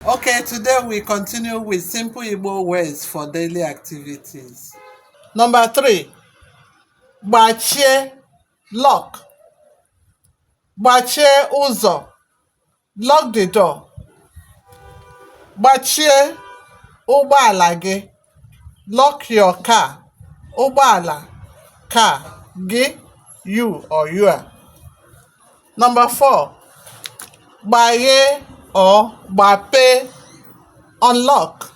Okay, today we continue with simple Igbo words for daily activities. Number three, gbachie lock. Gbachie ụzọ, lock the door. Gbachie ụgbọala gị. Lock your car, ụgbọala, car, gị, you or your. Number four, gbaghee or gbapee, unlock.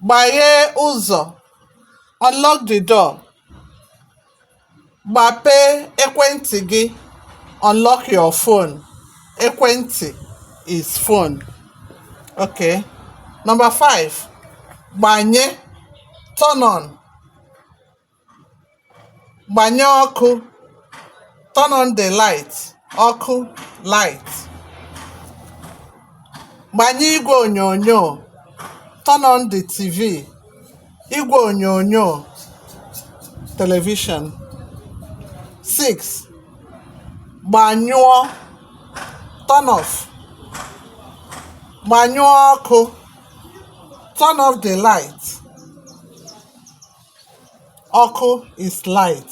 Gbaghee ụzọ, unlock the door. Gbapee ekwentị gị, unlock your phone. Ekwentị is phone. Okay. Number five, gbanye, turn on. Gbanye ọkụ, turn on the light. Ọkụ, light. Gbanye igwe onyonyo, turn on the TV. igwe onyonyo television 6 gbanyụọ turn off gbanyụọ ọkụ turn off the light ọkụ is light